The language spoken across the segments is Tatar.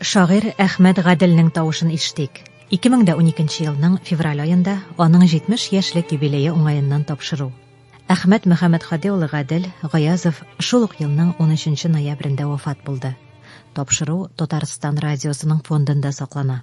Шагыйрь Әхмәт Гаделнең тавышын ишетик. 2012 елның февраль аенда аның 70 яшьлек юбилее уңаеннан тапшыру. Әхмәт Мөхәммәтхади улы Гадел Гаязов шул ук елның 13 ноябрендә вафат булды. Тапшыру Татарстан радиосының фондында саклана.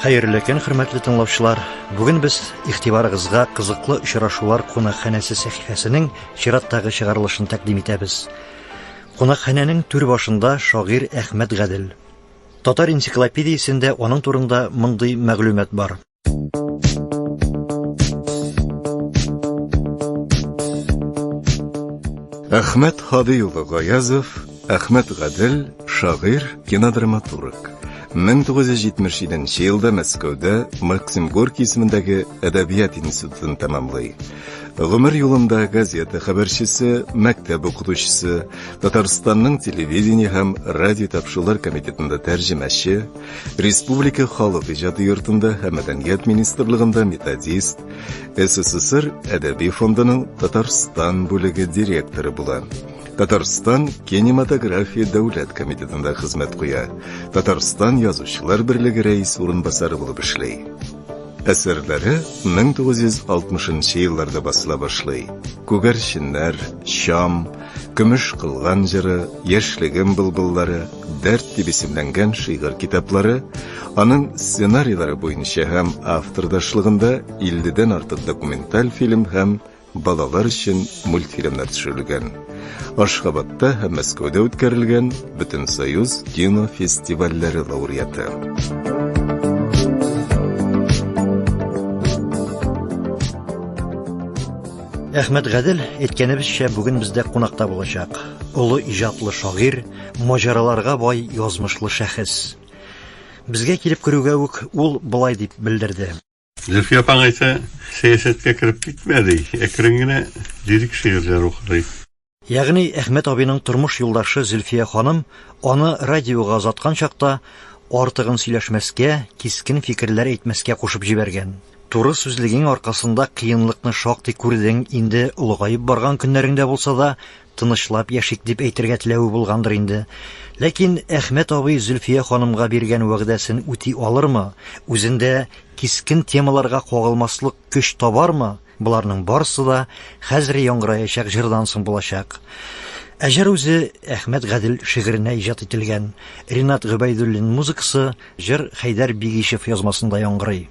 Хәерле көн, хөрмәтле тыңлаучылар. Бүген без игътибарыгызга кызыклы очрашулар кунакханәсе сәхифәсенең чираттагы чыгарылышын тәкъдим итәбез. Кунакханәнең түр башында шагыйрь Әхмәт Гадел. Татар энциклопедиясендә аның турында мондый мәгълүмат бар. Әхмәт Хади улы Гаязов, Әхмәт Гадел, шагыйр, кинодраматург. 1977 елда Мәскәүдә Максим Горький исемендәге әдәбият институтын тәмамлый. Гомер юлында газета хәбәрчесе, мәктәп укытучысы, Татарстанның телевидение һәм радио тапшырулар комитетында тәрҗемәче, Республика халык иҗаты йортында һәм мәдәният министрлыгында методист, СССР әдәби фондының Татарстан бүлеге директоры була. Татарстан кинематография дәүләт комитетында хезмәт куя. Татарстан язучылар берлеге рәис урынбасары булып эшли. Әсәрләре 1960 елларда басыла башлый. Күгәрченнәр, Чам, Көмеш кылган җыры, Яшьлегем былбыллары, Дәрт дип исемләнгән шигырь китаплары, аның сценарийлары буенча һәм автордашлыгында 50 дән артык документаль фильм һәм балалар өчен мультфильмнар төшерелгән. Ашхабадта һәм Мәскәүдә үткәрелгән Бөтенсоюз кино фестивальләре лауреаты. Әхмәт Гадел әйткәнебезчә бүген бездә кунакта булачак. Олы иҗатлы шагыйр, маҗараларга бай язмышлы шәхес. Безгә килеп керүгә үк ул былай дип белдерде. Зөлфия апаң әйтә, сәясәткә кереп китмә, ди, әкрен генә лирик шигырьләр укырый. Ягъни Әхмәт абыйның тормыш юлдашы Зөлфия ханым аны радиога озаткан чакта артыгын сөйләшмәскә, кискен фикерләр әйтмәскә кушып җибәргән. Туры сүзлегең аркасында кыенлыкны шактый күрдең, инде олыгаеп барган көннәреңдә булса да, тынычлап яшик дип әйтергә теләве булгандыр инде. Ләкин Әхмәт абый Зөлфия ханымга биргән вәгъдәсен үти алырмы, үзендә кискен темаларга кагылмаслык Көч табармы? Боларның барысы да хәзер яңгыраячак җырдан соң булачак. Ә җыр үзе Әхмәт Гадел шигыренә иҗат ителгән. Ринат Гөбәйдуллин музыкасы, җыр Хәйдәр Бигишев язмасында яңгырый.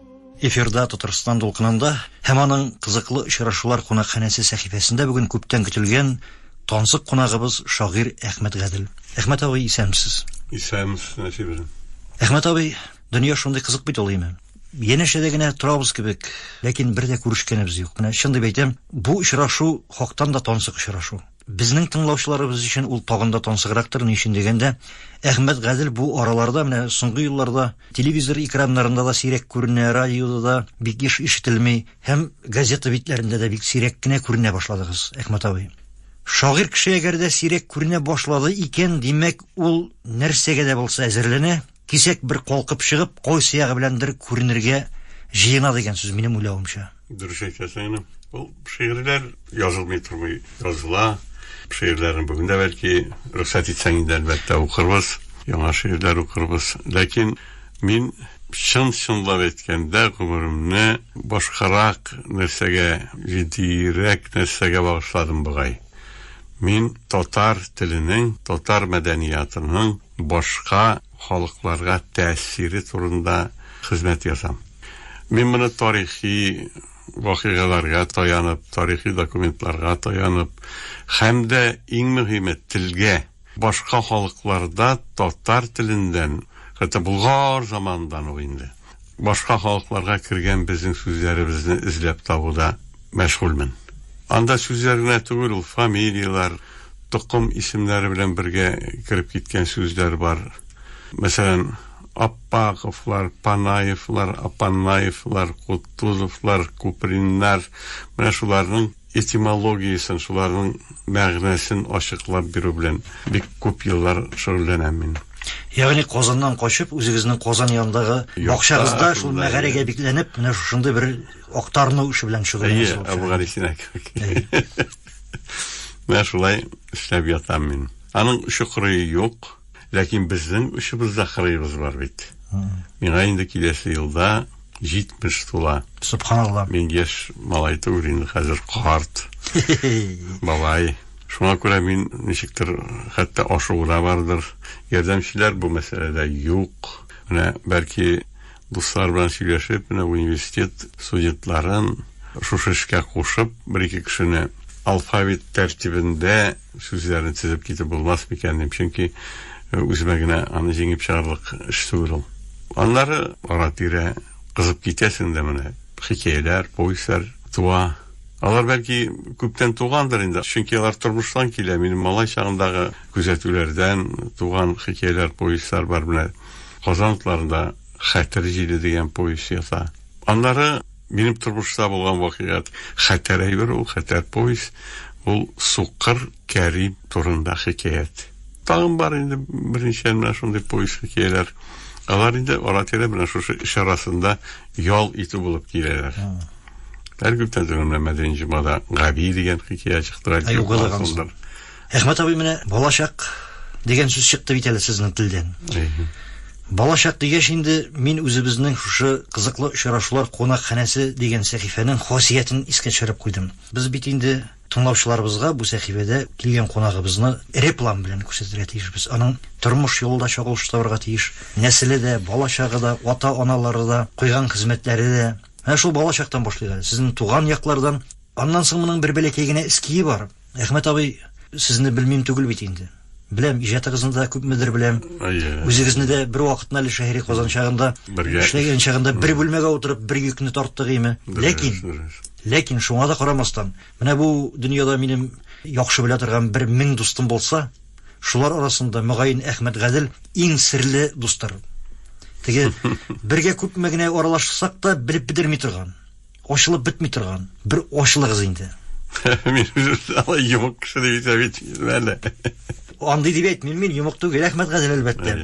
Эфирда Татарстан дулкынында һәм аның кызыклы очрашулар кунакханәсе сәхифәсендә бүген күптән көтелгән тансык кунагыбыз шагыйрь Әхмәт Гадел. Әхмәт абый, исәнмесез! Исәнмесез, Нәсиб белән. Әхмәт абый, дөнья шундый кызык бит ул имен. Янәшәдә генә торабыз кебек, ләкин бер дә күрешкәнебез юк. Менә чын дип әйтәм, бу очрашу хактан да тансык очрашу. Безнең тыңлаучыларыбыз өчен ул тагын да тансыграктыр, ни өчен дигәндә, Әхмәт Гадел бу араларда, менә соңгы елларда телевизор экраннарында да сирәк күренә, радиода да бик еш ишетелми һәм газета битләрендә дә бик сирәк кенә күренә башладыгыз, Әхмәт абый. Шагыйрь кеше әгәр дә сирәк күренә башлады икән, димәк, ул нәрсәгә дә булса әзерләнә, Кисәк бер калкып чыгып, кой сыягы беләндер күренергә җыена дигән сүз, минем уйлавымча. Дөрес әйтәсең инде. Ул шигырьләр язылмый тормый, языла. Шигырьләрне бүген дә бәлки рөхсәт итсәң инде, әлбәттә, укырбыз, яңа шигырьләр укырбыз. Ләкин мин чын-чынлап әйткәндә, гомеремне башкарак нәрсәгә, җитдиерәк нәрсәгә багышладым бугай. Мин татар теленең, татар мәдәниятының, башка халыкларга тәэсире турында хезмәт язам. Мин моны тарихи вакыйгаларга таянып, тарихи документларга таянып һәм дә, иң мөһиме, телгә, башка халыкларда татар теленнән, хәтта Болгар заманыннан ук инде, башка халыкларга кергән безнең сүзләребезне эзләп табуда мәшгульмен. Анда сүзләр генә түгел ул, фамилияләр, токым исемнәре белән бергә кереп киткән сүзләр бар. Мәсәлән, Аппаковлар, Панаевлар, Апаннаевлар, Кутузовлар, Куприннар, менә шуларның Этимологиясен, шуларның мәгънәсен ачыклап бирү белән бик күп еллар шөгыльләнәм мин. Ягъни Казаннан качып, үзегезнең Казан янындагы бакчагызда шул мәгарәгә бикләнеп, менә шушындый бер актарыну эше белән шөгыльләнәсез. Әйе, Әбүгалисина кебек. Менә шулай эшләп ятам мин. Аның чокыры юк. Ләкин безнең очыбызда кырыебыз бар бит. Миңа инде киләсе елда 70 тула. Субханалла. Мин яшь малай түгел инде хәзер карт. Бабай. Шуңа күрә мин ничектер хәтта ашыгуда бардыр. Ярдәмчеләр бу мәсьәләдә юк. Менә бәлки дуслар белән сөйләшеп, менә университет студентларын шушы эшкә кушып, бер-ике кешене алфавит тәртибендә Сүзләрен тезеп китеп булмас микән дим, чөнки үземә генә аны җиңеп чыгарлык эш түгел ул. Аннары ара-тирә кызып китәсең дә менә хикәяләр, повестьлар туа. Алар бәлки күптән тугандыр инде, чөнки алар тормыштан килә. Минем малай чагындагы күзәтүләрдән туган хикәяләр, повестьлар бар менә. Казан утларында Хәтер җиле дигән повесть ята. Аннары Минем тормышта булган вакыйгат хәтәр әйбер ул, хәтәр повесть. Ул Сукыр Кәрим турында хикәят. Тагын бар инде берничә менә шундый повесть хикәяләр. Алар инде ара-тирә менә шушы эш арасында ял итү булып киләләр. Әлбәттә, дөрмә мәдәни җомада Габи дигән хикәя чыкты. Ә югылган Әхмәт абый, менә балачак дигән сүз чыкты бит әле сезнең телдән. Балачак дигәч инде мин үзебезнең шушы кызыклы очрашулар кунакханәсе дигән сәхифәнең хасиятен искә төшереп куйдым. Без бит инде тыңлаучыларыбызга бу сәхифәдә килгән кунагыбызны эре план белән күрсәтергә тиешбез. Аның тормыш юлы да чагылыш табарга тиеш, нәселе дә, балачагы да, ата-аналары да, куйган хезмәтләре дә. Менә шул балачактан башлыйк әле, сезнең туган яклардан. Аннан соң моның бер бәләкәй генә эские бар. Әхмәт абый, сезне белмим түгел бит инде. Беләм, иҗатыгызны да күпмедер беләм. Үзегезне дә бер вакытны әле шәһри Казан чагында, эшләгән чагында бер бүлмәгә утырып бер йөкне тарттык име. Ләкин, ләкин шуңа да карамастан, менә бу дөньяда минем яхшы белә торган бер мең дустым булса, шулар арасында, мөгаен, Әхмәт Гадел иң серле дустыр. Теге бергә күпме генә аралашсак та, белеп бетерми торган. Ачылып бетми торган бер ачылыгыз инде. Мин үземне алай йомык кеше дип исәп итмим әле. Андый дип әйтмим мин, йомык түгел, рәхмәт Газел, әлбәттә.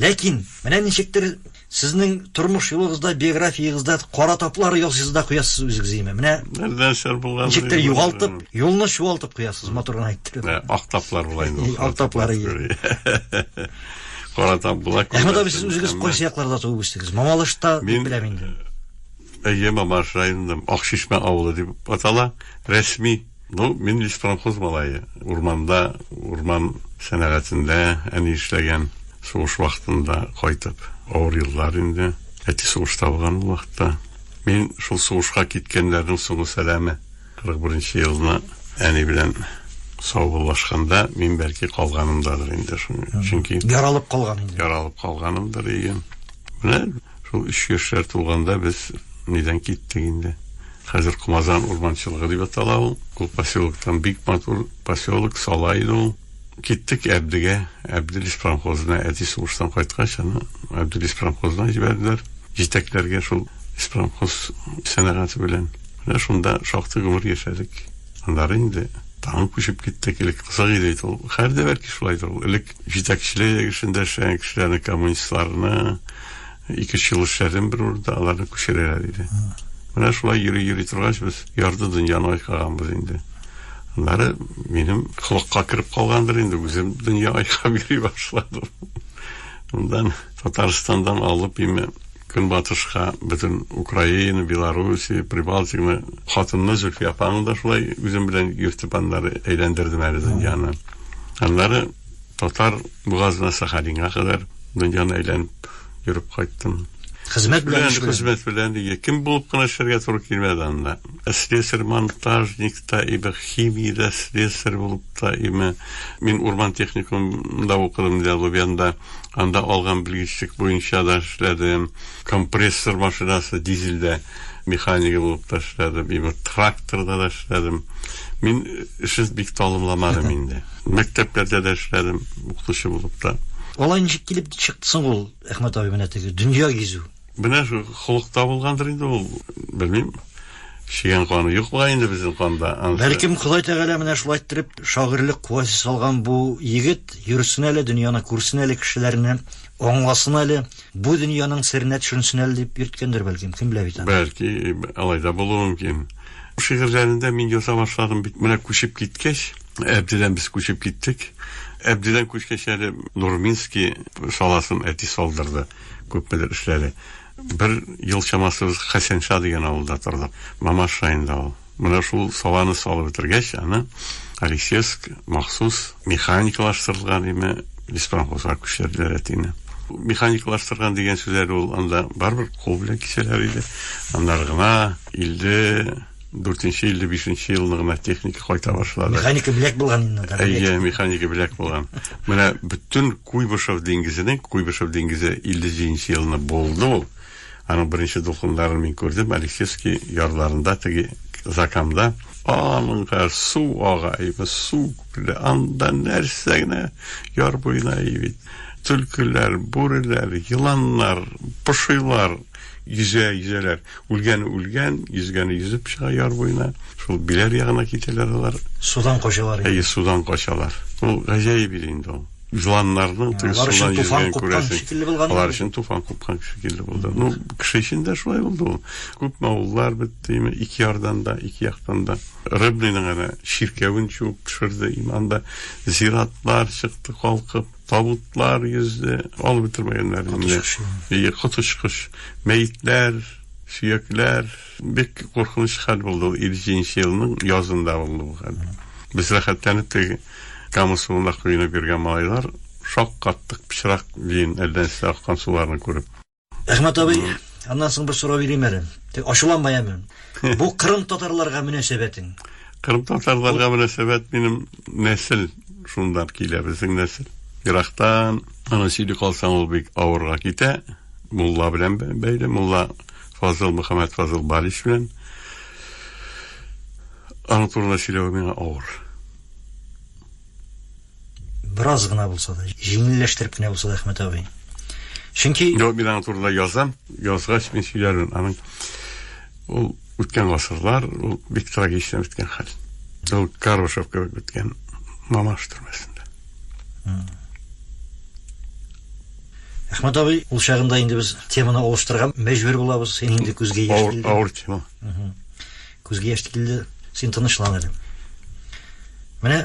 Ләкин, менә ничектер сезнең тормыш юлыгызда, биографиягызда кара таплар ясыйсыз да куясыз үзегез өемә. Менә нәрсәләр булган? Ничектер югалтып, юлны чуалтып куясыз, матур гына әйттереп. Ак таплар була инде. Ак таплар. Кара тап була. Әхмәт абый, сез үзегез кайсы якларда туып үстегез? Мамалышта дип беләм инде. Әйе, Мамаш районының Акчишмә авылы дип атала рәсми. Ну, мин леспромхоз малае. Урманда, урман сәнәгатендә әни эшләгән, сугыш вакытында кайтып. Авыр еллар инде. Әти сугышта булган ул вакытта. Мин шул сугышка киткәннәрнең соңгы сәламе. 41 елны әни белән саубуллашканда, мин бәлки калганымдадыр инде. Чөнки. Яралып калган инде. Яралып калганымдыр, әйе. Менә. Шул өч яшьләр тулганда без нидән киттек инде. Хәзер Кумазан урманчылыгы дип атала ул. Ул поселоктан бик матур поселок сала иде ул. Киттек Әбдегә, Әбделис промхозына, әти сугыштан кайткач, аны Әбделис промхозына җибәрделәр. Җитәкләргә шул испромхоз сәнәгате белән. Менә шунда шактый гомер яшәдек. Аннары инде тагын күчеп киттек. Элек кызык иде бит ул. Хәзер дә бәлки шулайдыр ул. Элек Җитәкчелек эшен дәшә, кешеләрне, коммунистларны, ике ел эшләдем бер урында, аларны күчерәләр диде. Менә шулай йөри-йөри торгач, без ярды дөньяны айкаганбыз инде. Аннары минем холыкка кереп калгандыр инде, үзем дөнья айкап йөри башладым. Мондан Татарстандан алып име Көнбатышка, бөтен Украина, Белоруссия, Прибалтикны, хатынны Зөлфия апаны да шулай үзем белән йөртеп аннары әйләндердем әле дөньяны. Аннары татар бугазына Сахалинга кадәр дөньяны әйләнеп йөреп кайттым. Хезмәт белән эш хезмәт белән ие. Кем булып кына эшләргә туры килмәде анда. Слесарь монтажникта, ибо химиядә слесарь булып Та име. Мин урман техникумында укыдым, ди Алубянда. Анда алган белгечлек буенча да эшләдем. Компрессор машинасы, дизельдә механигы булып та эшләдем. И бер тракторда да эшләдем. Мин эшне бик талымламадым инде. Мәктәпләрдә дә эшләдем, укытучы булып та. Алай ничек килеп чыкты соң ул, Әхмәт абый, менә теге дөнья гизү? Менә шул холыкта булгандыр инде ул, белмим. Чегән каны юк бугай инде безнең канда. Бәлкем Ходай Тәгалә менә шулай иттереп шагыйрьлек куәсе салган бу егет, йөрсен әле, дөньяны күрсен әле, кешеләрне аңласын әле, бу дөньяның серенә төшенсен әле дип йөрткәндер бәлкем, кем белә бит аны. Бәлки, алай да булуы мөмкин. Шигырьләрендә мин яза башладым бит менә күчеп киткәч, Әбдедән без күчеп киттек. Әбдедән күчкәч әле Нурминский саласын әти салдырды, күпмедер эшләде. Бер ел чамасы без Хәсәнша дигән авылда тордык. Мамаш районында ул. Менә шул саланы салып бетергәч, аны Алисевск махсус механикалаштырылган димме, леспромхозга күчерделәр әтине. Механикалаштырган дигән сүзләр ул анда барыбер кул белән кисәләр иде. Аннары гына илде. дүртенче илле бишенче елны гына техника кайта башлады. Механика беләк булган инде. Әйе, механика беләк булган. Менә бөтен Куйбышев диңгезенең, Куйбышев диңгезе 57 елны булды ул. Аның беренче дулкынларын мин күрдем, Алексеевский ярларында теге закамда. Аныңга су ага, әйбе су күпле. Анда нәрсә генә яр буена әйбит. Түлкеләр, бүреләр, еланнар, пошилар. Йөзә, йөзәләр. Үлгәне үлгән, йөзгәне йөзеп чыга яр буена. Шул Биләр ягына китәләр алар. Судан качалар. Әйе, судан качалар. Ул гаҗәеп иде инде ул. Җыланнарның теге судан йөзгәнен күрәсең. Алар өчен туфан купкан шикелле булды. Ну, кеше өчен дә шулай булды ул. Күпме авыллар бетте, ике ярдан да, ике яктан да. Рыбныйның әнә чиркәвен чуып төшерде, иманда зиратлар чыкты калкып. Табутлар йөзде, алып бетермәгәннәр инде. Әйе, коточкыч. Мәетләр, сөякләр. Бик куркыныч хәл булды ул 57 нче елның язында булды бу хәл. Без рәхәтләнеп теге Кама суына коенып йөргән малайлар шаккаттык пычрак биен әллә нәрсә аккан суларны күреп. Әхмәт абый, аннан соң бер сорау бирим әле. Тик ачуланма яме. Бу кырым татарларга мөнәсәбәтең. Кырым татарларга мөнәсәбәт минем нәсел шундан килә, безнең нәсел. Ерактан аны сөйли калсаң ул бик авырга китә. Мулла белән бәйле, мулла Фазыл Мөхәммәд Фазыл Балич белән. Аның турында сөйләү миңа авыр. Бераз гына булса да, җиңелләштереп кенә булса да, Әхмәт абый. Чөнки... Йо, мин аңа турыда язам, язгач мин сөйләрмен. Аның ул үткән гасырлар, ул бик трагична үткән хәл. Ул Карбышев кебек үткән Мамаш төрмәсендә. Әхмәт абый, ул чагында инде без теманы алыштырган, мәҗбүр булабыз. Син инде күзгә яшь килде. Авыр, авыр тема. Күзгә яшь килде. Син тынычлан әле. Менә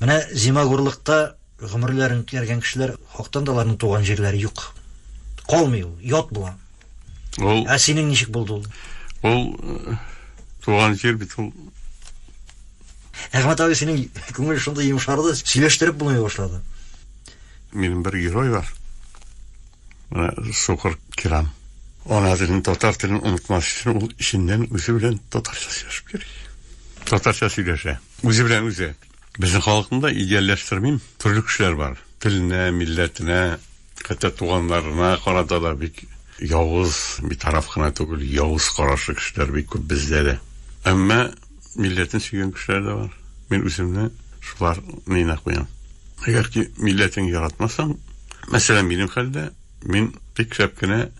Менә зимагурлыкта гомерләрен үткәргән кешеләр хактан да аларның туган җирләре юк. Калмый ул, ят була. Ул Ә синең ничек булды ул? Ул э, туган җир бит ул. Әхмәт абый синең күңел шундый йомшарды, сөйләштереп булмый башлады. Минем бер герой бар. Менә Сукыр Кирам. Ана телен, татар телен онытмас өчен ул эченнән үзе белән татарча сөйләшеп йөри. Татарча сөйләшә. Үзе белән үзе. Безнең халыкны да идеальләштермим. Төрле кешеләр бар. Теленә, милләтенә, хәтта туганнарына карата да бик явыз, битараф кына түгел, явыз карашлы кешеләр бик күп бездә дә. Әмма милләтен сөйгән кешеләр дә бар. Мин үземне шулар нына куям. Әгәр ки милләтең яратмасаң, мәсәлән, минем хәлдә, мин бик шәп кенә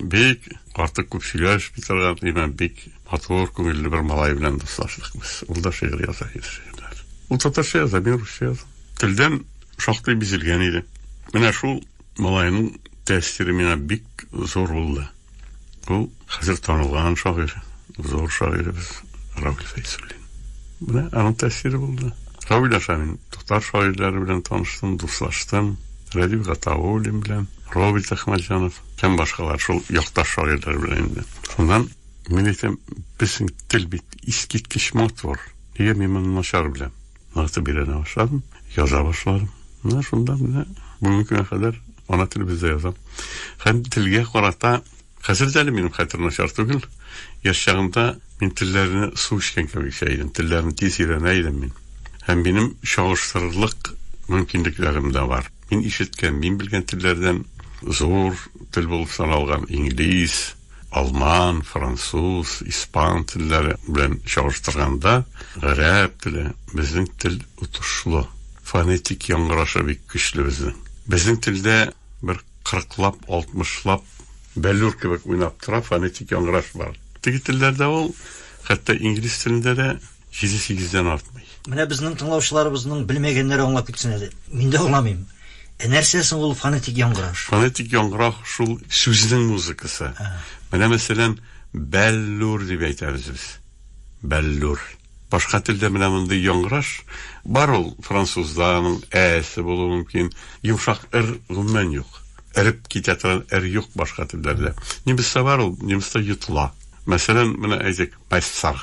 Бик артык күп сөйләшми торган, димәм, бик матур, күңелле бер малай белән дуслаштык без. Ул да шигырь яза иде, шигырьләр. Ул татарча яза, мин русча язам. Телдән шактый бизелгән иде. Менә шул малайның тәэсире миңа бик зур булды. Ул хәзер танылган шагыйрь, зур шагыйребез Равил Фәйсуллин. Менә аның тәэсире булды. Равил аша мин татар шагыйрьләре белән таныштым, дуслаштым. Рәдиф Гатауллин белән, Роберт Әхмәтҗанов, Һәм башкалар шул якташ шагыйрьләр белән инде. Шуннан мин әйтәм, безнең тел бит искиткеч матур. Нигә мин моны начар беләм? Ныгытып өйрәнә башладым, яза башладым. Менә шунда менә бүгенге көнгә кадәр ана телебездә язам. Һәм телгә карата хәзер дә әле минем хәтер начар түгел. Яшь чагымда мин телләрне су эчкән кебек эчә идем. Телләрне тиз өйрәнә идем мин. Һәм минем чагыштырырлык мөмкинлекләрем дә бар. Мин ишеткән, мин белгән телләрдән зур тел булып саналган инглиз, алман, француз, испан телләре белән чагыштырганда, гарәп теле безнең тел отышлы. Фонетик яңгырашы бик көчле безнең. Безнең телдә бер кырыклап, алтмышлап бәллүр кебек уйнап тора, фонетик яңгыраш бар. Теге телләрдә ул, хәтта инглиз телендә дә Җиде сигездән артмый. Менә безнең тыңлаучыларыбызның белмәгәннәре аңлап китсен әле. Мин дә аңламыйм. Ә нәрсә соң ул фонетик яңгыраш? Фонетик яңгыраш шул сүзнең музыкасы. Менә мәсәлән, бәллүр дип әйтәбез без. Бәллүр. Башка телдә менә мондый яңгыраш бар ул французда, аның әсе булуы мөмкин. Йомшак р гомумән юк. Эреп китә торган р юк башка телләрдә. Немецта бар ул, немецта йотыла. Мәсәлән, менә әйтик, пассар.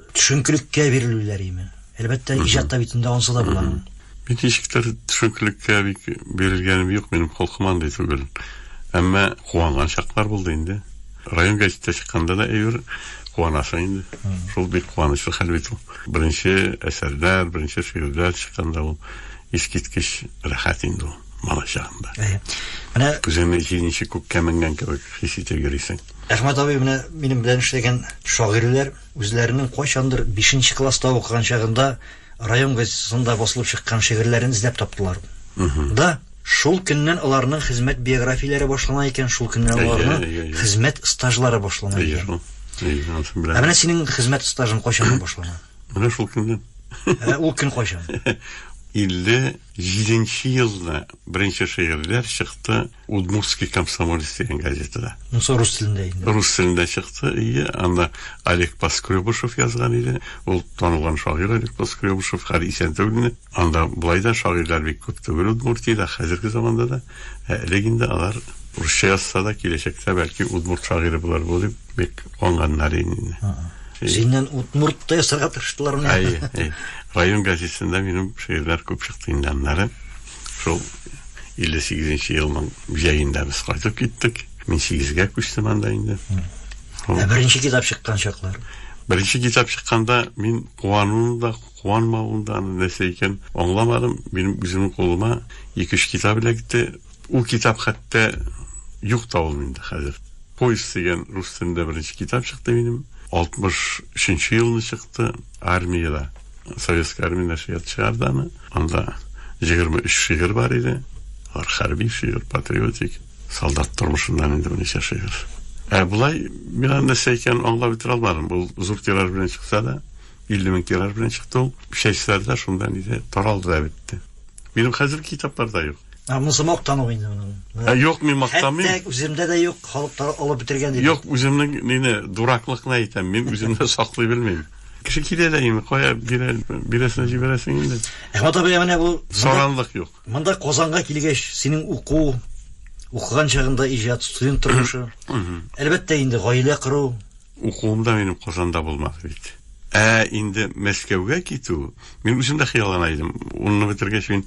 Төшенкелеккә бирелүләр име? Әлбәттә, иҗат та бит инде ансы да була. Мин ничектер төшенкелеккә бик бирелгәнем юк, минем холкым андый түгел. Әмма куанган чаклар булды инде. Район гәҗитә чыкканда да әйбер куанасың инде. Шул бик куанычлы хәл бит ул. Беренче әсәрләр, беренче шигырьләр чыкканда ул искиткеч рәхәт инде ул, малай чагында. Әйе. Менә Үзеңне җиңүче күккә менгән кебек хис итеп йөрисең. Әхмәт абый, менә минем белән эшләгән шагыйрьләр Үзләренең кайчандыр бишенче класста укыган чагында район газетасында басылып чыккан шигырьләрен эзләп таптылар да, шул көннән аларның хезмәт биографияләре башлана икән, шул көннән аларның хезмәт стажлары башлана икән. Ә менә синең хезмәт стажың кайчаннан башлана? Менә шул көннән. Ә ул көн кайчан? 57 нче елда беренче шигырьләр чыкты. Удмуртский комсомолец дигән газетада. Монсы рус телендә инде. Рус телендә чыкты, ие. Анда Олег Поскребышев язган иде. Ул танылган шагыйрь Олег Поскребышев, хәл исән түгелме? Анда болай да шагыйрьләр бик күп түгел Удмуртиядә, хәзерге заманда да. Ә элек инде алар русча язса да, киләчәктә бәлки удмурт шагыйре булыр бу дип бик куанганнар инде. Синнән удмурт та ясарга тырыштылармы? Әйе, әйе. Район газетында минем шигырьләр күп чыкты инде аннары. Шул 58 нче елның җәендә без кайтып киттек. Мин 8-гә күчтем анда инде. Ә беренче китап чыккан чаклар? Беренче китап чыкканда мин куануын да, куанмавын да аны нәрсә икән аңламадым. Минем үземнең кулыма 2-3 китап эләкте. Ул китап хәтта юк та ул инде хәзер. Поезд дигән рус телендә беренче китап чыкты минем. 63 нче елны чыкты армиядә. Советская армия нәшрият чыгарды аны. Анда 23 шигырь бар иде. Алар хәрби шигырь, патриотик, солдат тормышыннан инде берничә шигырь. Ә болай мин аны нәрсә икәнен аңлап бетерә алмадым. Ул зур тираж белән чыкса да, 50 мең тираж белән чыкты ул. Чәчләрдә шунда нидә таралды да бетте. Минем хәзер китапларда юк. Ә монысы мактану инде моның. Ә юк, мин мактамыйм. Хәтта үземдә дә юк, халык алып бетергән дип. Юк, үземнең мине дураклыкны әйтәм, мин үземдә саклый белмим. Кеше килә дә инде, кая бирә, бирәсенә җибәрәсең инде. Әхмәт абый, менә бу саранлык юк. Монда Казанга килгәч, синең уку, укыган чагында иҗат, студент тормышы. Әлбәттә инде, гаилә кору. Укуым да минем Казанда булмады бит. Ә инде Мәскәүгә китү, мин үзем дә хыяллана идем. Унны бетергәч, мин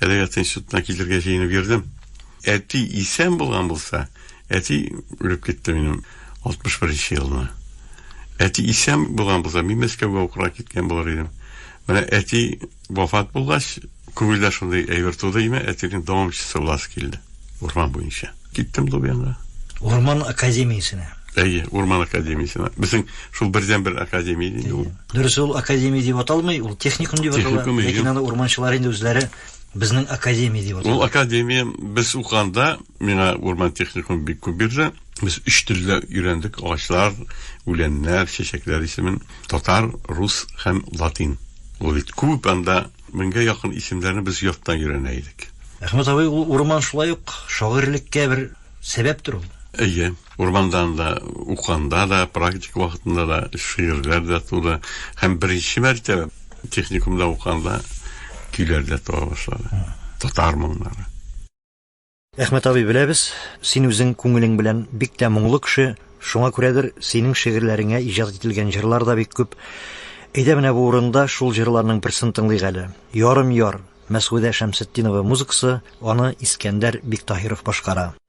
әдәбият институтына китергә җыенып йөрдем. Әти исән булган булса, Әти үлеп китте минем 61 нче елны. Әти исән булган булса, мин Мәскәүгә укырга киткән булыр идем. Менә әти вафат булгач, күңелдә шундый әйбер туды име, әтинең дәвамчысы буласы килде. Урман буенча. Киттем Дубянга. Урман академиясенә. Әйе, Урман академиясенә. Безнең шул бердәнбер академия иде ул. Дөрес, ул академия дип аталмый, ул техникум дип атала. Техникум, әйе. Ләкин аны урманчылар инде үзләре Безнең академия дип атала. Ул академия без укганда миңа урман техникумы бик күп бирде. Без өч телдә өйрәндек агачлар, үләннәр, чәчәкләр исемен. Татар, рус һәм латин. Ул бит күп анда меңгә якын исемнәрне без яттан өйрәнә идек. Әхмәт абый, ул урман шулай ук шагыйрьлеккә бер сәбәптер ул. Әйе. Урмандан да, уканда да, практика вакытында да шигырьләр дә туды. Һәм беренче мәртәбә техникумда уканда көйләр дә туа башлады. Татар моңнары. Әхмәт абый, беләбез, син үзең күңелең белән бик тә моңлы кеше, шуңа күрәдер, синең шигырьләреңә иҗат ителгән җырлар да бик күп. Әйдә менә бу урында шул җырларның берсен тыңлыйк әле. Ярым яр, Мәсгудә Шәмсетдинова музыкасы, аны Искәндәр Биктаһиров башкара.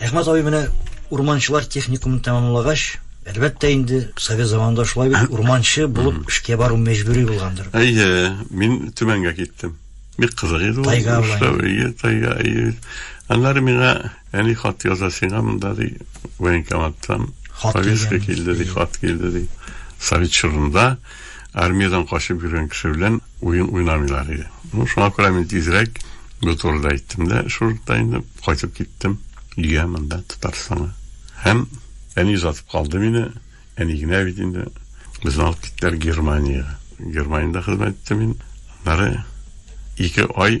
Әхмәт абый менә урманчылар техникумын тәмамлагач, әлбәттә инде, совет заманында шулай бит, урманчы булып эшкә бару мәҗбүри булгандыр. Әйе, мин Төмәнгә киттем. Бик кызык иде ул. Тайга була. Әйе, тайга, әйе. Аннары миңа әни хат яза сиңа монда ди, военкоматтан повестка килде ди, хат килде ди. Совет чорында Армиядән качып йөргән кеше белән уен уйнамыйлар иде. Ну, шуңа күрә мин тизрәк бу турыда әйттем дә, шул да инде кайтып киттем өйгә монда Татарстанга. Һәм әни озатып калды мине, әни генә бит инде. Безне алып киттеләр Германиягә. Германиядә хезмәт иттем мин. Аннары ике ай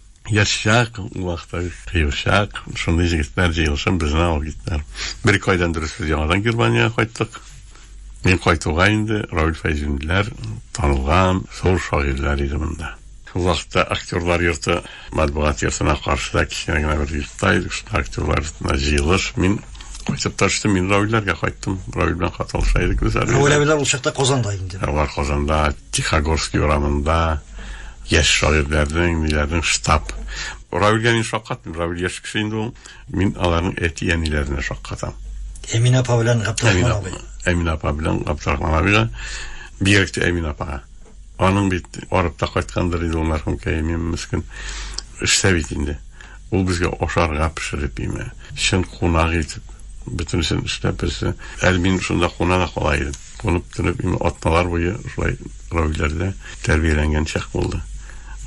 Яшьчак, ул вакытта кыючак, шундый җегетләр җыелышын безне алып киттеләр. Бер-ике айдан дөрес без яңадан Германиягә кайттык. Мин кайтуга инде Равил Фәйзуллиннар танылган зур шагыйрьләр иде монда. Шул вакытта актерлар йорты матбугат йортына каршыда кечкенә генә бер йортта идек, шунда актерлар йортына җыелыш. Мин кайтып та төштем, мин Равилләргә кайттым. Равил белән хат алыша идек без әле. Равил абилар ул чакта Казанда инде. Алар Казанда, Тихогорский урамында, Яшь шагыйрьләрнең, ниләрнең штаб. Равилгә мин шаккаттым. Равил яшь кеше инде ул. Мин аларның әти-әниләренә шаккатам. Әминә апа белән Габдрахман абый. Әминә апа белән Габдрахман абыйга, бигрәк тә Әминә апага. Аның бит арып та кайткандыр иде ул мәрхүм кәемем мескен. Эштә бит инде. Ул безгә ашарга пешереп име, чын кунак итеп, бөтенесен эшләп, берсе. Әле мин шунда куна да кала идем. Туып телеп инде атналар буе шулай равиләрдә тәрбияләнгән чак булды.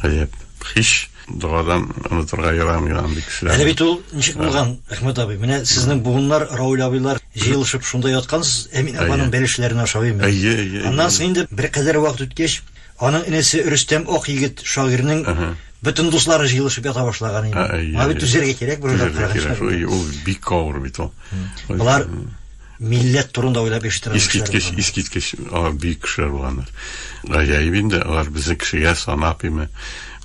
Гаҗәп. Хиш догадан онытырга ярам ярам бик сирәк. Әле бит ул ничек булган, Әхмәт абый? Менә сезнең буыннар, Рауль абыйлар җыелышып шунда яткансыз, Әмин апаның бәлешләрен ашап именно. Әйе, әйе. Аннан соң инде беркадәр вакыт үткәч, аның энесе Рөстәм Ак егет шагыйрьнең бөтен дуслары җыелышып ята башлаган инде. Моңа бит түзәргә кирәк, бер уйлап караганда. Ул бик авыр бит ул. Болар Милләт турында уйлап яшәтергә Искиткеч, искиткеч, алар бик кешеләр булганнар. Гаҗәеп инде, алар безне кешегә санап име,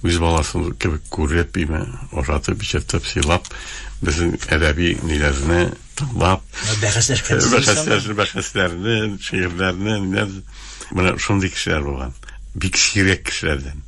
үз баласын кебек күреп име, ошатып, ичертеп, сыйлап, безнең әдәби ниләрне тыңлап, бәхәсләшкән, бәхәсләшкән, бәхәсләрне, шигырьләрне, менә шундый кешеләр булган. Бик сирәк кешеләрдән.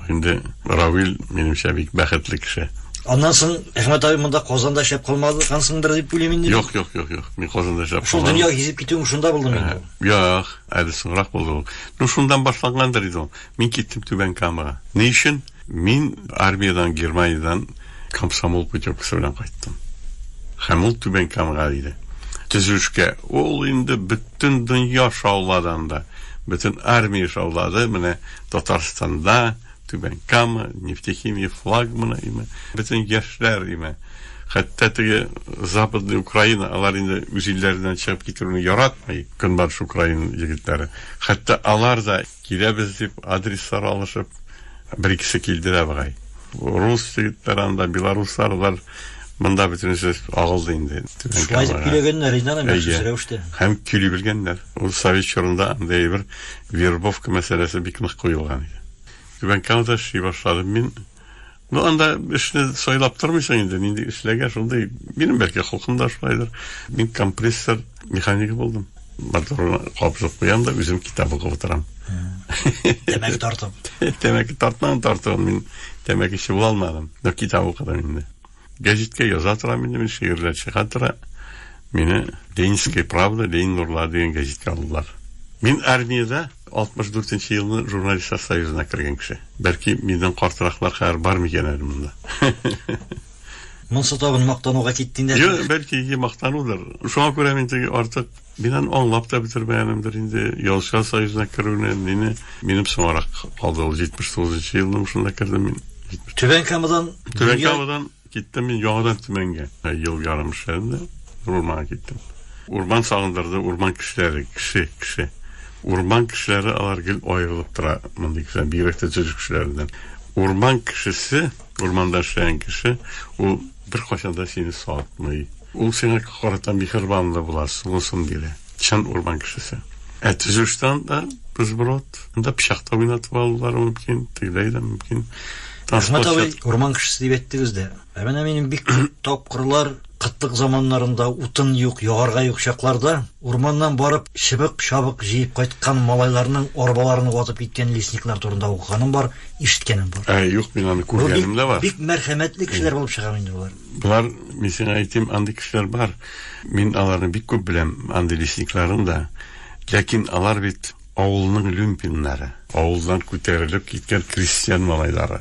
Инде Равил, минемчә, бик бәхетле кеше. Аннан соң Әхмәт абый монда Казанда эшләп калмады, кансыңдыр дип уйлыйм инде. Юк, юк, юк, юк. Мин Казанда эшләп калдым. Шул дөнья гизеп китүем шунда булдым инде. Юк, әле соңрак булды ул. Ну, шундан башлангандыр иде ул. Мин киттем Түбән Камага. Ни өчен? Мин армиядән, Германиядән комсомол путевкасы белән кайттым. Һәм ул Түбән Камага иде. Төзүшкә. Ул инде бөтен дөнья шауладанда, бөтен армия шаулады. Менә Татарстанда Түбән Кама, нефтехимия флагманы име, бөтен яшьләр име. Хәтта теге Западный Украина, алар инде үз илләреннән чыгып китүне яратмый, Көнбатыш Украина егетләре. Хәтта алар да киләбез дип адреслар алышып, бер икесе килде дә бугай. Рус егетләре анда, белоруслар бар. Монда бөтенесе агылды инде. Шулай дип килгәннәр инде аны мәхсүс рәвештә. Һәм кили белгәннәр. Ул совет чорында андый бер Вербовка мәсьәләсе бик нык куелган иде. Түбән Камада эшли башладым мин. Ну, анда эшне сайлап тормыйсың инде, нинди эшләгә, шундый. Минем бәлки холкым да шулайдыр. Мин компрессор механигы булдым. Моторны кабызып куям да, үзем китап укып утырам. Тәмәке тартып. Тәмәке тартмам тартуын, мин тәмәкече була алмадым. Но китап укыдым инде. Гәҗиткә яза торам инде мин, шигырьләр чыга тора. Мине Ленинская правда, Ленин нурлары дигән гәҗиткә алдылар. Мин армиядә 64 нче елны журналистлар союзына кергән кеше. Бәлки миннән картыраклар хәзер бар микән әле монда? Монсы тагын мактануга китте инде. Юк, бәлки мактанудыр. Шуңа күрә мин теге артык Мин аны аңлап та бетермәгәнемдер инде. Язучылар союзына керүне мине, минем соңарак калды ул, 79 нчы елның шунда кердем мин. Түбән Камадан Түбән Камадан киттем мин яңадан Төмәнгә. Ел ярым эшләдем дә, урманга киттем. Урман сагындырды, урман кешеләре, кеше, кеше. Урман кешеләре алар гел аерылып тора мондый кешеләр, бигрәк тә төзү кешеләреннән. Урман кешесе, урманда эшләгән кеше, ул Беркайчан да сине сатмый. Ул сиңа карата миһербанлы була, сулысын бирә. Чын урман кешесе. Ә төзүштан да безброд. Анда пычакта уйнатып алулары мөмкин, тегеләй дә мөмкин. Рәхмәт абый, урман кешесе дип әйттегез дә. Ә менә минем бик күп тапкырлар кытлык заманнарында, утын юк, ягарга юк чакларда, Урманнан барып чыбык-чабык җыеп кайткан малайларның арбаларын ватып киткән лесниклар турында укыганым бар, ишеткәнем бар. Ә, юк, мин аны күргәнем дә бар. Бу бик, бик мәрхәмәтле кешеләр булып чыгар инде болар. Болар, мин сиңа әйтим, андый кешеләр бар. Мин аларны бик күп беләм, андый лесникларын да. Ләкин алар бит. Авылның люмпиннары. Авылдан күтәрелеп киткән крестьян малайлары.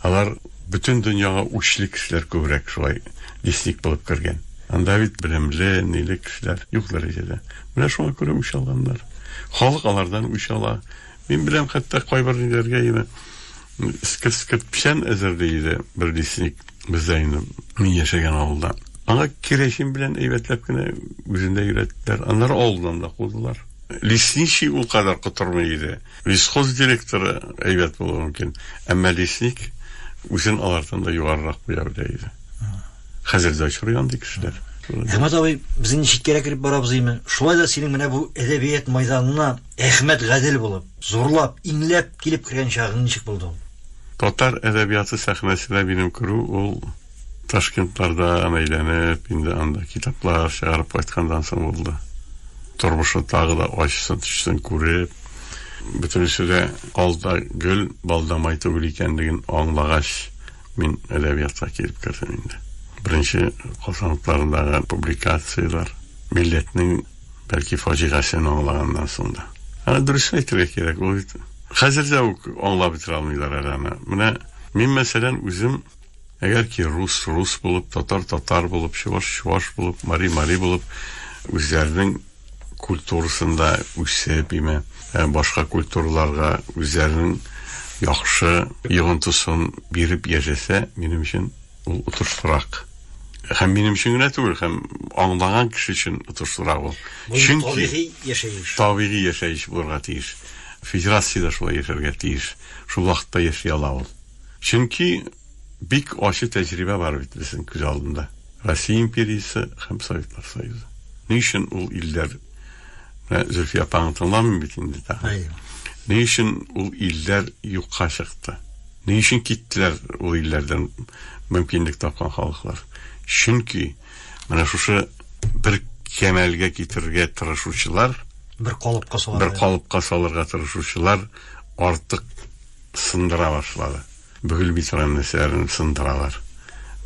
Алар бөтен дөньяга үчле кешеләр күбрәк шулай лесник булып кергән. Анда бит белемле, ниле кешеләр юк дәрәҗәдә. Менә шуңа күрә үч алганнар. Халык алардан үч ала. Мин беләм, хәтта кайбер ниләргә ины Скырт-скырт печән әзерли иде бер лесник бездә инде, мин яшәгән авылда. Аңа керәшен белән әйбәтләп кенә үзендә өйрәттеләр. Аннары авылдан да кудылар. Лесничий ул кадәр котырмый иде. Лесхоз директоры әйбәт булуы мөмкин, әмма лесник үзен алардан да югарырак куя белә иде. Хәзер дә очрый андый кешеләр. Әхмәт абый, без инде читкәрәк кереп барабыз име? Шулай да синең менә бу әдәбият мәйданына Әхмәт Гадел булып, зурлап, иңләп килеп кергән чагың ничек булды ул? Татар әдәбияты сәхнәсенә минем керү ул Ташкентлардан әйләнеп, инде анда китаплар чыгарып кайткандан соң булды. Тормышны тагы да ачысын-төчесен күреп, бөтенесе дә ал да гөл, бал да май түгел икәнлеген аңлагач, мин әдәбиятка килеп кердем инде. Беренче калфангларындагы публикацияләр, милләтнең. Бәлки фаҗигасен аңлаганнан соң да. Аны дөрес әйтергә кирәк, ул бит хәзер дә үк аңлап бетерә алмыйлар әле аны. Менә мин мәсәлән үзем әгәр ки рус рус булып, татар татар булып, чуваш чуваш булып, мари мари булып үзләренең культурасында үсеп, име, ә, башка культураларга үзләренең яхшы йогынтысын биреп яшәсә, минем өчен ул отышлырак. Һәм минем өчен генә түгел, һәм аңлаган кеше өчен отышлырак ул. Чөнки табигый яшәеш. Табигый яшәеш булырга тиеш. Федерациядә шулай яшәргә тиеш. Шул вакытта яши ала ул. Чөнки бик ачы тәҗрибә бар бит безнең күз алдында. Россия империясе һәм Советлар Союзы. Ни өчен ул илләр менә Зөлфия апаңны тыңламыйм бит инде тагын. Ни өчен ул илләр юкка чыкты? Ни өчен киттеләр ул илләрдән мөмкинлек тапкан халыклар? Чөнки менә шушы бер кәмәлгә китерергә тырышучылар, бер калыпка салырга, бер калыпка салырга тырышучылар артык сындыра башлады. Бөгелми торган нәрсәләрен сындыралар.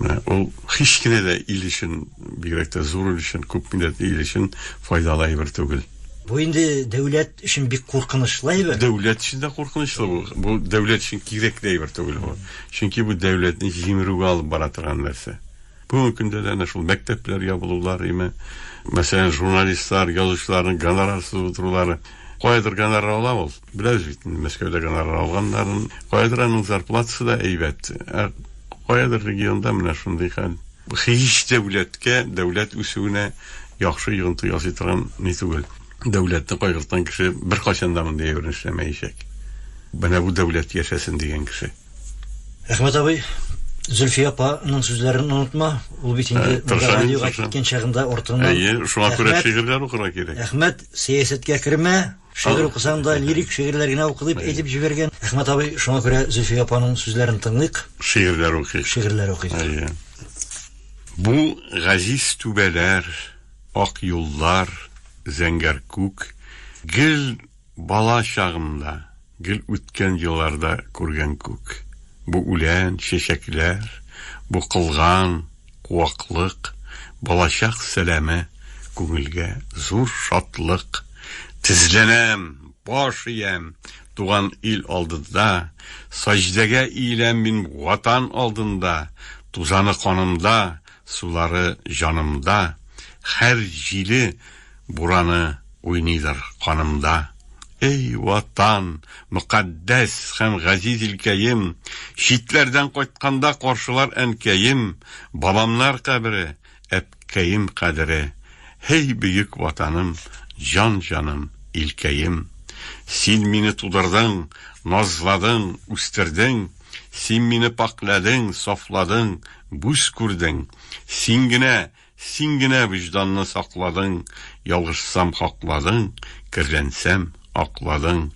Менә ул һич кенә дә ил өчен, бигрәк тә зур ил өчен, күп милләтле ил өчен файдалы әйбер түгел. Бу инде дәүләт өчен бик куркынычлы әйбер. Дәүләт өчен дә куркынычлы бу. Бу дәүләт өчен кирәкле әйбер түгел бу. Чөнки бу дәүләтне җимерүгә алып бара торган нәрсә. Бүгенге көндә дә әнә шул мәктәпләр ябылулар, име, мәсәлән, журналистлар, язучыларның гонорарсыз утырулары. Каядыр гонорар ала ул. Беләбез бит, Мәскәүдә гонорар алганнарын. Каядыр аның зарплатасы да әйбәт. Ә каядыр регионда менә шундый хәл. Һич дәүләткә, дәүләт үсүенә яхшы йогынты ясый торган ни түгел. Дәүләтне кайгырткан кеше беркайчан да мондый әйберне эшләмәячәк. Менә бу дәүләт яшәсен дигән кеше. Рәхмәт абый. Зөлфия апаның сүзләрен онытма. Ул бит инде радиога киткән чагында артыннан. Әйе, шуңа күрә шигырьләр укырга кирәк. Әхмәт, сәясәткә кермә. Шигырь укысаң да, лирик шигырьләр генә укы, дип әйтеп җибәргән. Әхмәт абый, шуңа күрә Зөлфия апаның сүзләрен тыңлыйк. Шигырьләр укыйк. Шигырьләр укыйк. Әйе. Бу газиз түбәләр, ак юллар, зәңгәр күк, гел бала чагымда, гел үткән елларда күргән күк. Бу үлән, чәчәкләр, бу кылган. Куаклык, балачак сәламе, Күңелгә зур шатлык. Тезләнәм, баш иям, Туган ил алдында, Саҗдәгә иеләм мин Ватан алдында. Тузаны канымда, Сулары җанымда, Хәр җиле, Бураны уйныйдыр канымда. Эй, Ватан, мөкатдәс һәм газиз илкәем, Читләрдән кайтканда каршылар әнкәем, Бабамнар кабере, әпкәем кадере. Һей, бөек Ватаным, җан-җаным, илкәем! Син мине тудырдың, назладың, үстердең, Син мине пакьләдең, сафладың, бүз күрдең. Син генә, Син генә вөҗданны сакладың, Ялгышсам, хакладың, Керләнсәм, акладың.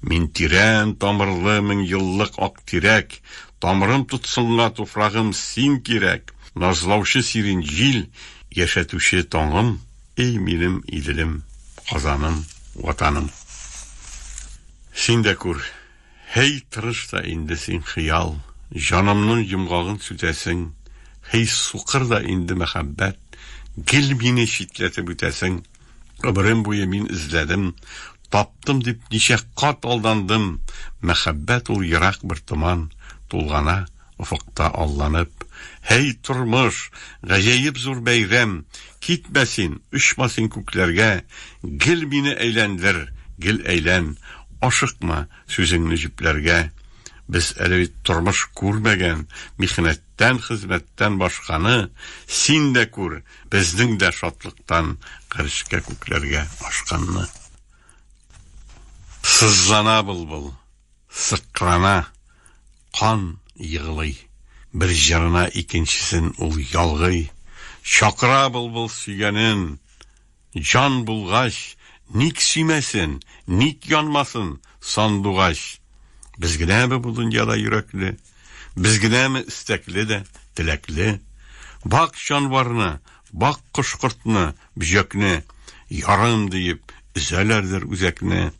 Мин тирән тамырлы меңьеллык ак тирәк, Тамырым тотсынга туфрагым, син кирәк! Назлаучы сирень җил, яшәтүче таңым, Эй, минем Иделем, Казаным, Ватаным! Син дә күр. Һей, тырыш та инде син, хыял, Җанымның йомгагын сүтәсең, Һей, сукыр да инде мәхәббәт, Гел мине читләтеп үтәсең. Гомерем буе мин эзләдем, Таптым дип ничә кат алдандым, Мәхәббәт ул ерак бер томан, Тулгана Офыкта алланып, Һәй, тормыш, гаҗәеп зур бәйрәм, Китмә син, очма син күкләргә, Гел мине әйләндер, гел әйлән, Ашыкма сүзеңне җөпләргә. Без әле бит тормыш күрмәгән, Михнәттән, хезмәттән башканы Син дә күр, безнең дә шатлыктан Гарешкә, күкләргә ашканны. Сызлана былбыл, сыкрана. Кан егылый. Бер җырына икенчесен ул ялгый. Чакыра былбыл сөйгәнен. Җан булгач, ник сөймәсен, ник янмасын сандугач? Без генәме бу дөньяда йөрәкле? Без генәме эстәкле дә, теләкле? Бак җанварны, бак кош-кортны, бөҗәкне, Ярым диеп, өзәләрдер үзәкне.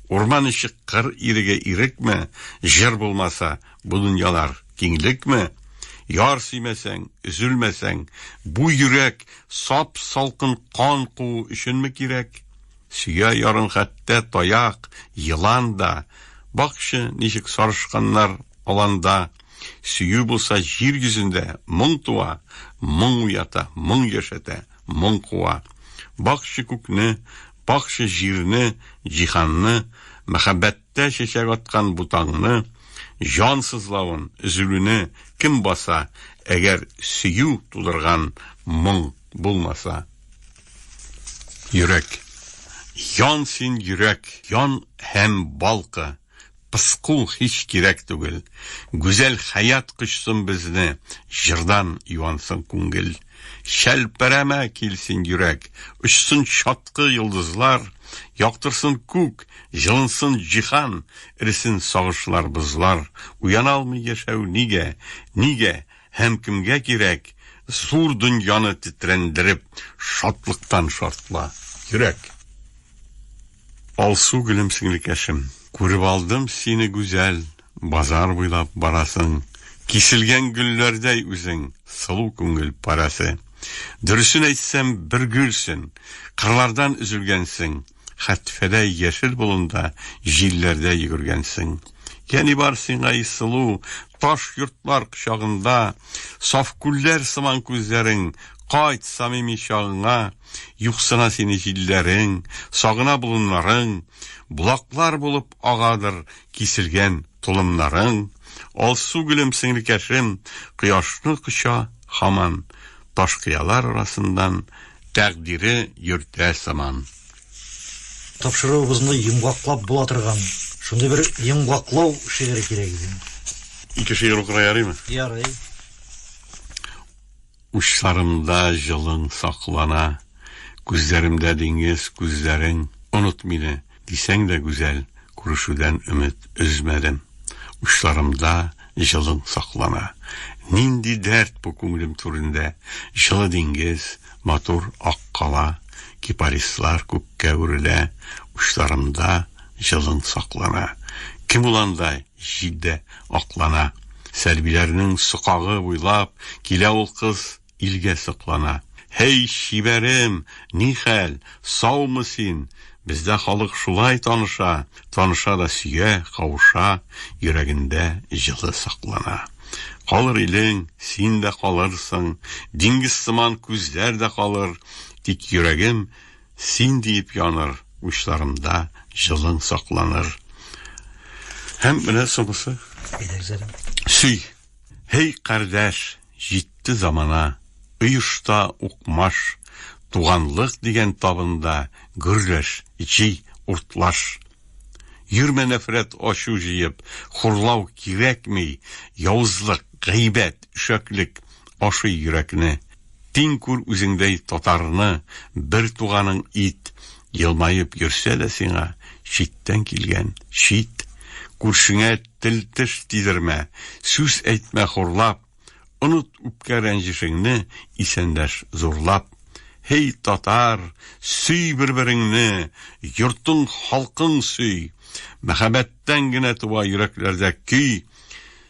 Урман эче кыр иреге ирекме, Җыр булмаса, бу дөньялар киңлекме? Яр сөймәсәң, өзелмәсәң, бу йөрәк Сап-салкын кан куу өченме кирәк? Сөя ярын хәтта таяк, елан да, Бакчы, ничек сарышканнар аланда. Сөю булса җир йөзендә, моң туа, Моң уята, моң яшәтә, моң куа. Бакчы күкне, Пакчы җирне, җиһанны, Мәхәббәттә чәчәк аткан бу таңны, Җан сызлавын, өзелүне кем баса, Әгәр сөю тудырган моң булмаса? Йөрәк. Ян син, йөрәк, ян һәм балкы! Пыску һич кирәк түгел. Гүзәл хәят кочсын безне, Җырдан юансын күңел. Чәлпәрәмә кил син, йөрәк, Очсын чаткы йолдызлар, Яктырсын күк, җылынсын җиһан, Эресен сагышлар, бозлар. Уяна алмый яшәү нигә? Нигә һәм кемгә кирәк? Зур дөньяны тетрәндереп, Шатлыктан шартла, йөрәк! Алсу гөлем сеңлекәшем. Күреп алдым сине гүзәл, Базар буйлап барасың. Киселгән гөлләрдәй үзең, Сылу күңел парәсе. Дөресен әйтсәм, бер гөлсен, Кырлардан өзелгәнсең. Хәтфәдәй яшел болында, Җилләрдә йөгергәнсең. Я ни бар сиңа, и сылу, Таш йортлар кочагында, Саф күлләр сыман күзләрең, Кайт самими чагыңа. Юксына сине җилләрең, Сагына болыннарың, Болаклар булып агадыр Киселгән толымнарың. Алсу гөлем, сеңлекәшем, Кояшны коча һаман, Таш кыялар арасыннан Тәкъдире йөртә сыман. Тапшыруыбызны йомгаклап була торган шундый бер йомгаклау шигыре кирәк иде. Ике шигырь укырга ярыймы? Ярый. Учларымда җылың саклана. Күзләремдә диңгез күзләрең. Оныт мине, дисәң дә гүзәл, Күрешүдән өмет өзмәдем. Учларымда җылың саклана. Нинди дәрт бу күңелем түрендә, Җылы диңгез, матур ак кала, Кипарислар күккә үрелә, Учларымда җылың саклана. Кем ул андай? Җил дә аклана. Сәрбиләрнең сокагы буйлап Килә ул кыз илгә соклана. Һей, чибәрем, ни хәл, саумы син? Бездә халык шулай таныша, Таныша да сөя, кавыша, Йөрәгендә җылы саклана. Калыр илең, син дә калырсың, Диңгез сыман күзләр дә калыр, Тик йөрәгем, Син диеп яныр учларымда җылың сакланыр. Һәм менә соңгысы. Сөй. Һей кардәш, җитте замана. Оешта укмаш, туганлык дигән табында гөрләш, җи, уртлаш. Йөрмә нәфрәт ачу җыеп, хурлау кирәкми, явызлык, гайбәт, шәклек ашый йөрәкне. Тиң күр үзеңдәй татарны, бер туганың ит, елмаеп йөрсә дә сиңа, читтән килгән, чит. Күршеңә тел-теш тидермә, сүз әйтмә хурлап, оныт үпкә-рәнҗешеңне, исәндәш зурлап. Һей, татар, сөй бер-береңне, йортың, халкың сөй! Мәхәббәттән генә туа йөрәкләрдә көй.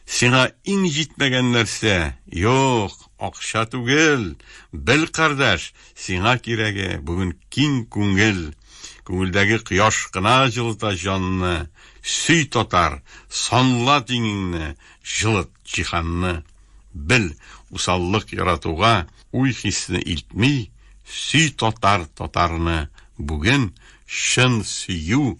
Сиңа иң җитмәгән нәрсә, юк, акча түгел, бел, кардәш, сиңа кирәге, бүген киң күңел. Күңелдәге кояш кына җылыта җанны, сөй, татар, санла тиңеңне, җылыт җиһанны. Бел, усаллык яратуга уй-хисне илтми, сөй, татар, татарны, бүген чын сөю,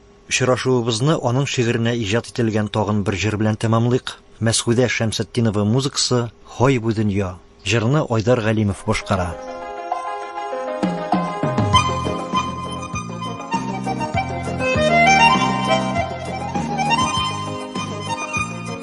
Очрашуыбызны аның шигыренә иҗат ителгән тагын бер җыр белән тәмамлыйк. Мәсгудә Шәмсетдинова музыкасы, Һай бу дөнья! Җырны Айдар Галимов башкара.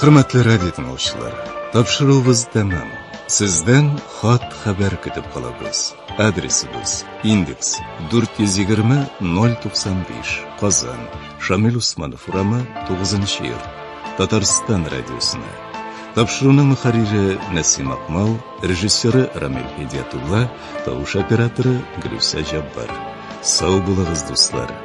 Хөрмәтле радио тыңлаучылар, тапшыруыбыз тәмам. Сездән хат хәбәр көтеп калабыз. Адресыбыз: Индекс 420-095, Казан, Шамил Усманов урамы, 9 йорт. Татарстан радиосына. Тапшыруның мөхәррире Нәсим Акмал, режиссеры Рамил Һидиятулла, тавыш операторы Гөлүсә Җаббар. Сау булыгыз, дуслар!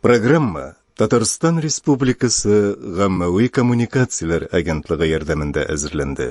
Программа Татарстан Республикасы гаммәви коммуникацияләр агентлыгы ярдәмендә әзерләнде.